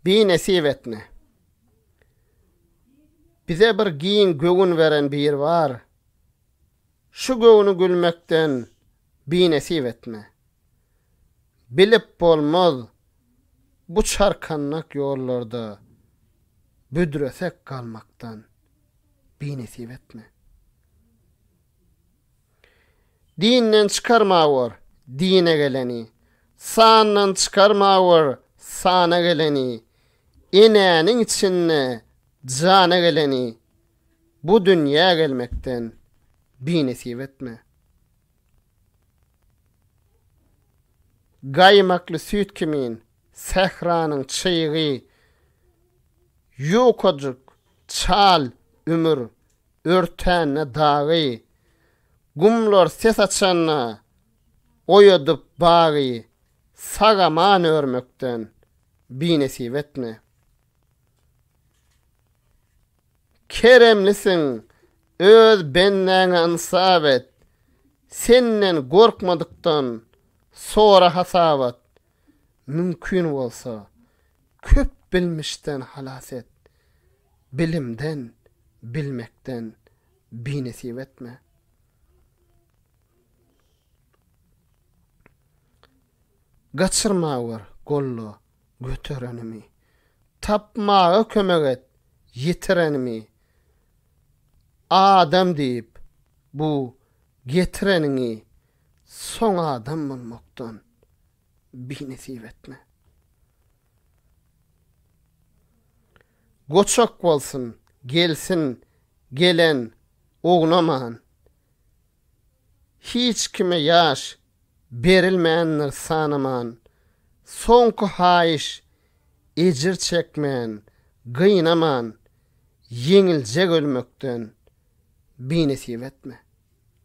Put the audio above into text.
Bi nesip etne. Bize bir giň göwün beren bir bar. Şu göwni gülmekden bi nesip etme. Bilip bolmaz bu çarkannak ýollarda büdresek galmakdan bi nesip etme. Dinden çykarma bor, dine geleni, Sandan çykarma bor, sana geleni, Enäniň içinde jana geleni, Bu dünýä gelmekden binesip etme. Gaýmakly süýt kimin sähranyň çygy, Ýukajyk, çal ömür, Örtände dagy. Gumlar ses açanda, Oýadyp bagy. Sag-aman örmekden, Binesip etme. Keremlisiň, öz bendäňe ynsap et, Senden gorkmadykdan, sora hasabat. Mümkin bolsa, köp bilmişden halas et, bilimden, bilmekden binesip etme. Gaçyrma bir golda göterenimi, tapmaga kömek et ýitirenimi. Adam diýip, bu getireniňi Soň adam bolmakdan binesip etme. Goçak bolsun, gelsin, gelen, ognaman. Hiç kime ýaş berilmändir sanaman. Soňky haýyş, ejir çekmän, gynaman, ýeňiljek ölmekden binesip etme.